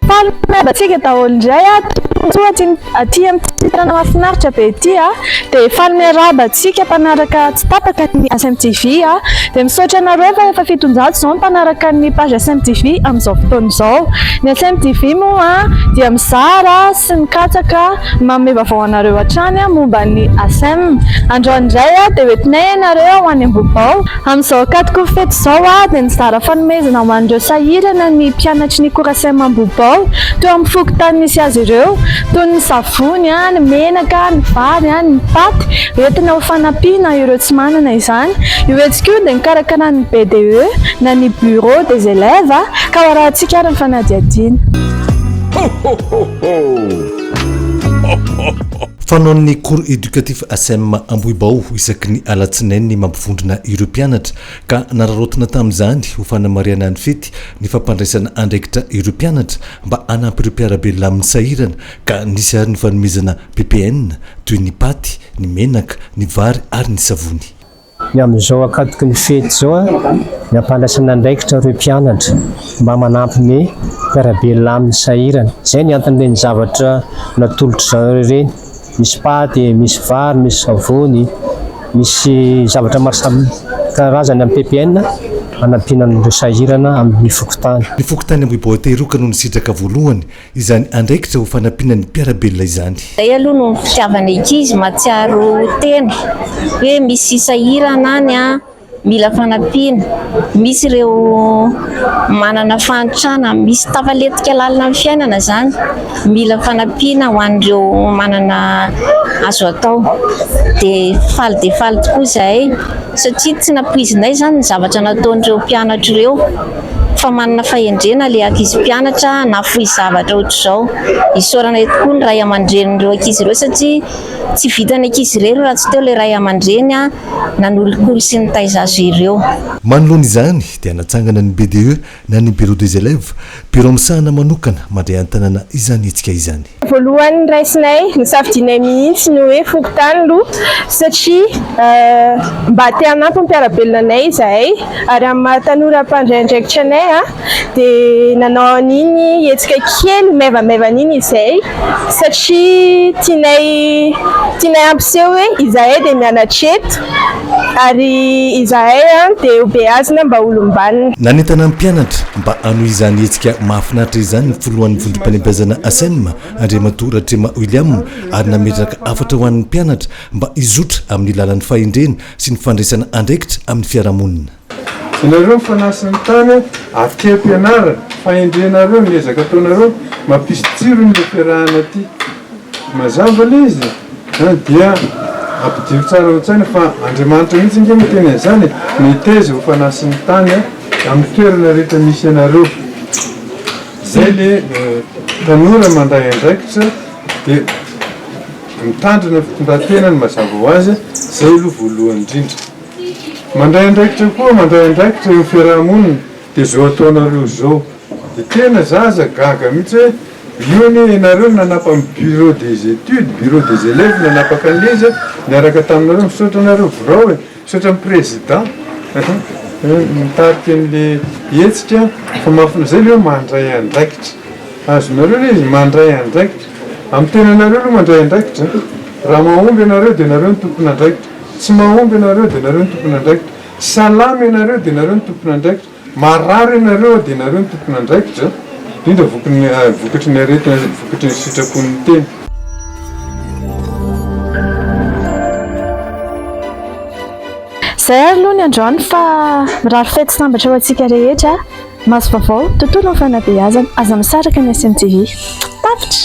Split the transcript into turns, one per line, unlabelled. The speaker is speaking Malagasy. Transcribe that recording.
Fanambatsika daholo indray a toa aty aty amin'ity tanàna mahafinaritra be ity a dia fanome arahabantsika mpanaraka tsy tapaka ny SMTV a dia misaotra anareo fa efa fitonjato izao ny mpanaraka ny page SMTV amin'izao fotoana izao ny SMTV moa dia mizara sy mikatsaka Manome vaovao anareo hatrany aho momba ny ASEM. Androany indray dia hoentinay ianareo ho any Ambohibao. Amin'izao ankatoky ny fety izao dia nizara fanomezana ho an'ireo sahirana ny mpianatry ny Corasem Ambohibao teo amin'ny fokontany misy azy ireo, toy ny savony, ny menaka, ny vary, ny paty, hoentina ho fanampiana ireo tsy manana izany. Io hetsika io dia nokarakaran'ny BDE na ny Bureau des Elèves ka ho arahintsika ary ny fanadihadiana. Ho ho ho ho!
Fanaon'ny Cours Educatif Asem Ambohibao isaky ny alatsinainy mampivondrona ireo mpianatra ka nararaotina tamin'izany ho fanamarihana ny fety ny fampandraisana andraikitra ireo mpianatra mba hanampy ireo mpiara-belona amin'ny sahirana ka nisy ary ny fanomezana ppn toy ny paty, ny menaka, ny vary ary ny savony. Ny amin'izao
akatoky ny fety izao dia ampandraisana andraikitra ireo mpianatra mba manampy ny mpiara-belona aminy sahirana. Izay ny anton'ireny zavatra natolotry zareo ireny, misy paty, misy vary, misy savony, misy zavatra maro samy karazany amin'ny PPN hanampiana an'ireo sahirana amin'ny fokontany. Ny fokontany Ambohibahoaka
Iroka no nisitraka voalohany Izany andraikitra ho fanampiana ny mpiara-belona izany. Zay aloha no ny fitiavana
ity izy matsiaro tena hoe misy sahirana any an, mila fanampiana, misy ireo manana fahantrana, misy tafalentika lalina amin'ny fiainana zany mila fanampiana ho an'ireo manana azo atao de faly dia faly tokoa zahay satria tsy nampoizinay zany ny zavatra nataon'ireo mpianatra ireo. Fa manana fahendrena ilay ankizy mpianatra nahafoy zavatra ohatr'izao. Isaorana eto koa ny ray aman-drenin'ireo ankizy ireo satria tsy vitan'ny ankizy irery raha tsy teo ilay ray aman-dreny nanolokolo sy nitaiza azy ireo. Manoloana izany
dia natsangana ny BDE na ny Bureau des Elèves, birao misahana manokana mandray an-tanana izany hetsika izany. Voalohany raisinay,
nosafidianay mihitsy ny hoe fokontany aloha satria mba te hanampy ny mpiara-belona anay izahay ary amin'ny maha tanora mpandray andraikitra anay dia nanao an'iny hetsika kely maivamaivana iny izahay satria tianay tianay hampiseho hoe izahay dia mianatra eto. Ary izahay dia hobeazina mba holom-banona. Nanentana ny mpianatra
mba hanohy izany hetsika mahafinaritra izany ny filohan'ny vondrom-panembeazana Asem, Andriamatoa Ratrema William, ary nametraka hafatra ho an'ny mpianatra mba hizotra amin'ny lalan'ny fahendrena sy ny fandraisana andraikitra amin'ny fiarahamonina. Ianareo ny
fanasin' ny tany avy aty ampianarana, fahendrenareo ny ezaka ataonareo, mampisy tsirony le fiarahana aty. Mazava le izy a! Dia ampidiry tsara ao an-tsaina fa Andriamanitra mihitsy ange no teny an'izany e! Meteza ho fanasin' ny tany amin' ny toerana rehetra misy anareo. Izay le tanora mandray andraikitra dia mitandrina ny fitondran-tenany mazava ho azy, izay aloha voalohany indrindra. Mandray andraikitra koa mandray andraikitra eo fiarahamonina de zao ataonareo zao de tena za aza gaga mihitsy hoe io anie ianareo no nanapa ny bureau des etudes, bureau des elèves nanapaka anle izy niaraka taminareo misaotra anareo birao e, misaotra ny président nitarika anle hetsika fa mahafinaritra zay le hoe mandray andraikitra azonareo le izy mandray andraikitra amin'ny tenanareo aloha mandray andraikitra raha mahomby ianareo de nareo no tompon'andraikitra. Tsy mahomby ianareo dia ianareo no tompon'andraikitra. Salama ianareo dia ianareo no tompon'andraikitra. Marary ianareo dia ianareo no tompon'andraikitra. Indrindra vokatry ny aretina sady vokatry ny sitrapon'ny tena.
Izay ary aloha ny androany fa mirary fety sy sambatra ho antsika rehetra. Maso vaovao, tontolo ny fanabeazana. Aza misaraka ny SMTV. Tapitra!